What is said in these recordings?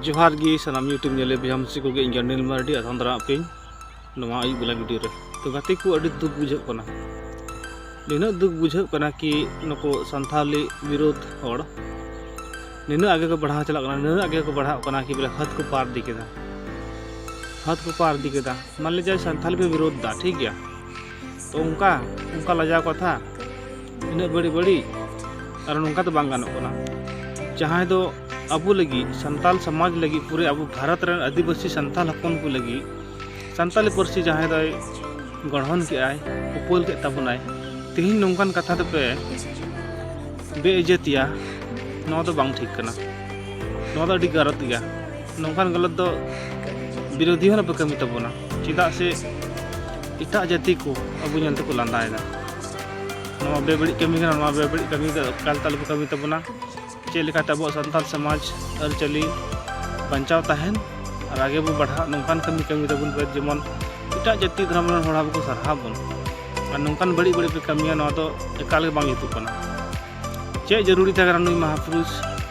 ᱡᱚᱦᱟᱨ ᱜᱮ ᱥᱟᱱᱟᱢ ᱤᱭᱩᱴᱩᱵᱽ ᱧᱮᱞᱮ ᱵᱚᱭᱦᱟ ᱢᱤᱥᱤ ᱠᱚᱜᱮ ᱤᱧ ᱜᱟᱱᱰᱤᱞ ᱢᱟᱨᱰᱤ ᱟᱥᱟᱢ ᱫᱟᱨᱟ ᱟᱯᱮ ᱱᱚᱣᱟ ᱟᱹᱭᱩᱵ ᱵᱮᱞᱟ ᱵᱷᱤᱰᱤᱭᱳ ᱨᱮ ᱛᱚ ᱜᱟᱛᱮ ᱠᱚ ᱟᱹᱰᱤ ᱫᱩᱠ ᱵᱩᱡᱷᱟᱹᱜ ᱠᱟᱱᱟ ᱱᱤᱱᱟᱹᱜ ᱫᱩᱠ ᱵᱩᱡᱷᱟᱹᱜ ᱠᱟᱱᱟ ᱠᱤ ᱱᱩᱠᱩ ᱥᱟᱱᱛᱷᱟᱞᱤ ᱵᱤᱨᱳᱫ ᱦᱚᱲ ᱱᱤᱱᱟᱹᱜ ᱟᱜᱮ ᱠᱚ ᱵᱟᱲᱦᱟᱣ ᱪᱟᱞᱟᱜ ᱠᱟᱱᱟ ᱱᱤᱱᱟᱹᱜ ᱟᱜᱮ ᱠᱚ ᱵᱟᱲᱦᱟᱜ ᱠᱟᱱᱟ ᱠᱤ ᱵᱚᱞᱮ ᱦᱟᱛ ᱠᱚ ᱯᱟᱨ ᱤᱫᱤ ᱠᱮᱫᱟ ᱦᱟᱛ ᱠᱚ ᱯᱟᱨ ᱤᱫᱤ ᱠᱮᱫᱟ ᱢᱟᱱᱞᱤ ᱡᱟᱭ ᱥᱟᱱᱛᱷᱟᱞ ᱯᱮ ᱵᱤᱨᱳᱫ ᱫᱟ ᱴᱷᱤᱠ ᱜᱮᱭᱟ ᱛᱚ ᱚᱱᱠᱟ ᱚᱱᱠᱟ ᱞᱟᱡᱟᱣ ᱠᱟᱛᱷᱟ ᱤᱱᱟᱹᱜ ᱵᱟᱹᱲᱤᱡ ᱵᱟᱹᱲᱤᱡ ᱟᱨ ᱱᱚᱝᱠᱟ ᱫᱚ ᱵᱟᱝ ᱜᱟᱱᱚᱜ ᱠᱟᱱᱟ ᱡᱟᱦᱟᱸᱭ ᱫᱚ ᱟᱵᱚ ᱞᱟᱹᱜᱤᱫ ᱥᱟᱱᱛᱟᱞ ᱥᱚᱢᱟᱡᱽ ᱞᱟᱹᱜᱤᱫ ᱯᱩᱨᱟᱹ ᱟᱵᱚ ᱵᱷᱟᱨᱚᱛ ᱨᱮᱱ ᱟᱹᱫᱤᱵᱟᱹᱥᱤ ᱥᱟᱱᱛᱟᱞ ᱦᱚᱯᱚᱱ ᱠᱚ ᱞᱟᱹᱜᱤᱫ ᱥᱟᱱᱛᱟᱞᱤ ᱯᱟᱹᱨᱥᱤ ᱡᱟᱦᱟᱸᱭ ᱫᱚᱭ ᱜᱚᱲᱦᱚᱱ ᱠᱮᱜᱼᱟᱭ ᱩᱯᱟᱹᱞ ᱠᱮᱫ ᱛᱟᱵᱚᱱᱟᱭ ᱛᱮᱦᱮᱧ ᱱᱚᱝᱠᱟᱱ ᱠᱟᱛᱷᱟ ᱫᱚᱯᱮ ᱵᱮᱼᱤᱡᱽᱡᱟᱹᱛᱤᱭᱟ ᱱᱚᱣᱟ ᱫᱚ ᱵᱟᱝ ᱴᱷᱤᱠ ᱠᱟᱱᱟ ᱱᱚᱣᱟ ᱫᱚ ᱟᱹᱰᱤ ᱜᱟᱞᱚᱛ ᱜᱮᱭᱟ ᱱᱚᱝᱠᱟᱱ ᱜᱟᱞᱚᱛ ᱫᱚ ᱵᱤᱨᱳᱫᱷᱤ ᱦᱚᱸ ᱟᱞᱚᱯᱮ ᱠᱟᱹᱢᱤ ᱛᱟᱵᱚᱱᱟ ᱪᱮᱫᱟᱜ ᱥᱮ ᱮᱴᱟᱜ ᱡᱟᱹᱛᱤ ᱠᱚ ᱟᱵᱚ ᱧᱮᱞ ᱛᱮᱠᱚ ᱞᱟᱸᱫᱟᱭᱮᱫᱟ ᱱᱚᱣᱟ ᱵᱮᱵᱟᱹᱲᱤᱡ ᱠᱟᱹᱢᱤ ᱠᱟᱱᱟ ᱱᱚᱣᱟ ᱵᱮᱵᱟᱹᱲᱤᱡ ᱠᱟᱹᱢᱤ ᱫᱚ ᱮᱠᱟᱞ ᱛᱮ ᱟᱞᱚᱯᱮ ᱠᱟᱹᱢᱤ ᱛᱟᱵᱚᱱᱟ ᱪᱮᱫ ᱞᱮᱠᱟᱛᱮ ᱟᱵᱚᱣᱟᱜ ᱥᱟᱱᱛᱟᱲ ᱥᱚᱢᱟᱡᱽ ᱟᱹᱨᱤᱪᱟᱹᱞᱤ ᱵᱟᱧᱪᱟᱣ ᱛᱟᱦᱮᱱ ᱟᱨ ᱟᱜᱮ ᱵᱚ ᱵᱟᱲᱦᱟᱜ ᱱᱚᱝᱠᱟᱱ ᱠᱟᱹᱢᱤ ᱠᱟᱹᱢᱤ ᱛᱟᱵᱚᱱ ᱯᱮ ᱡᱮᱢᱚᱱ ᱮᱴᱟᱜ ᱡᱟᱹᱛᱤ ᱫᱷᱚᱨᱚᱢ ᱨᱮᱱ ᱦᱚᱲ ᱟᱵᱚ ᱠᱚ ᱥᱟᱨᱦᱟᱣ ᱵᱚᱱ ᱟᱨ ᱱᱚᱝᱠᱟᱱ ᱵᱟᱹᱲᱤᱡ ᱵᱟᱹᱲᱤᱡ ᱯᱮ ᱠᱟᱹᱢᱤᱭᱟ ᱱᱚᱣᱟ ᱫᱚ ᱮᱠᱟᱞ ᱜᱮ ᱵᱟᱝ ᱡᱩᱛᱩᱜ ᱠᱟᱱᱟ ᱪᱮᱫ ᱡᱟᱹᱨᱩᱲᱤ ᱛᱟᱦᱮᱸ ᱠᱟᱱᱟ ᱱᱩᱭ ᱢᱟᱦᱟᱯᱩᱨᱩᱥ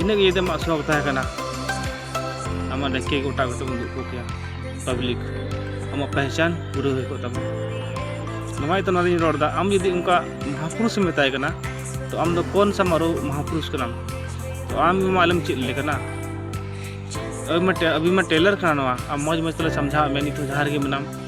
ᱤᱱᱟᱹ ᱜᱮ ᱡᱩᱫᱤ ᱟᱢᱟᱜ ᱥᱚᱠ ᱛᱟᱦᱮᱸ ᱠᱟᱱᱟ ᱟᱢᱟᱜ ᱰᱟᱹᱠᱤ ᱜᱚᱴᱟ ᱠᱟᱛᱮ ᱵᱚᱱ ᱫᱩᱲᱩᱵ ᱠᱮᱭᱟ ᱯᱟᱵᱽᱞᱤᱠ ᱟᱢᱟᱜ ᱯᱮᱦᱪᱟᱱ ᱯᱩᱨᱟᱹ ᱦᱩᱭ ᱠᱚᱜ ᱛᱟᱢᱟ ᱱᱚᱣᱟ ᱤᱭᱟᱹᱛᱮ ᱱᱚᱣᱟ ᱫᱚᱧ ᱨᱚᱲᱫᱟ ᱟᱢ ᱡᱩᱫᱤ ᱚᱱᱠᱟ ᱢᱟᱦᱟᱯᱩᱨᱩᱥ ᱮᱢ ᱢᱮᱛᱟᱭ ᱠᱟᱱᱟ ᱛᱚ ᱟᱢ ᱫᱚ ᱠᱚᱱ ᱥᱟ ᱢᱟᱨᱩ ᱢᱟᱦᱟᱯᱩᱨᱩᱥ ᱠᱟᱱᱟᱢ ᱛᱚ ᱟᱢ ᱜᱮ ᱢᱟ ᱟᱞᱮᱢ ᱪᱮᱫ ᱞᱮ ᱠᱟᱱᱟ ᱟᱹᱵᱤ ᱢᱟ ᱟᱹᱵᱤ ᱢᱟ ᱴᱮᱞᱟᱨ ᱠᱟᱱᱟ ᱱᱚᱣᱟ ᱟᱢ ᱢᱚᱡᱽ ᱢᱚᱡᱽ ᱛᱮᱞᱮ ᱥᱟᱢᱡᱷᱟᱣᱟᱫ ᱢᱮᱭᱟ ᱱᱤᱛᱚᱜ ᱡᱟᱦᱟᱸ ᱨᱮᱜᱮ ᱢᱮᱱᱟᱢ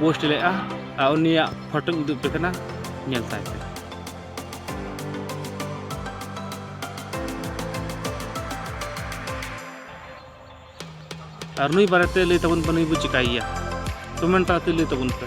ᱯᱳᱥᱴ ᱞᱮᱫᱼᱟ ᱟᱨ ᱩᱱᱤᱭᱟᱜ ᱯᱷᱳᱴᱳᱧ ᱩᱫᱩᱜ ᱟᱯᱮ ᱠᱟᱱᱟ ᱧᱮᱞ ᱛᱟᱭ ᱯᱮ ᱟᱨ ᱱᱩᱭ ᱵᱟᱨᱮᱛᱮ ᱞᱟᱹᱭ ᱛᱟᱵᱚᱱ ᱯᱮ ᱱᱩᱭ ᱵᱚ ᱪᱤᱠᱟᱹᱭᱮᱭᱟ ᱠᱚᱢᱮᱱᱴ ᱛᱟᱞᱟᱛᱮ ᱞᱟᱹᱭ ᱛᱟᱵᱚᱱ ᱯᱮ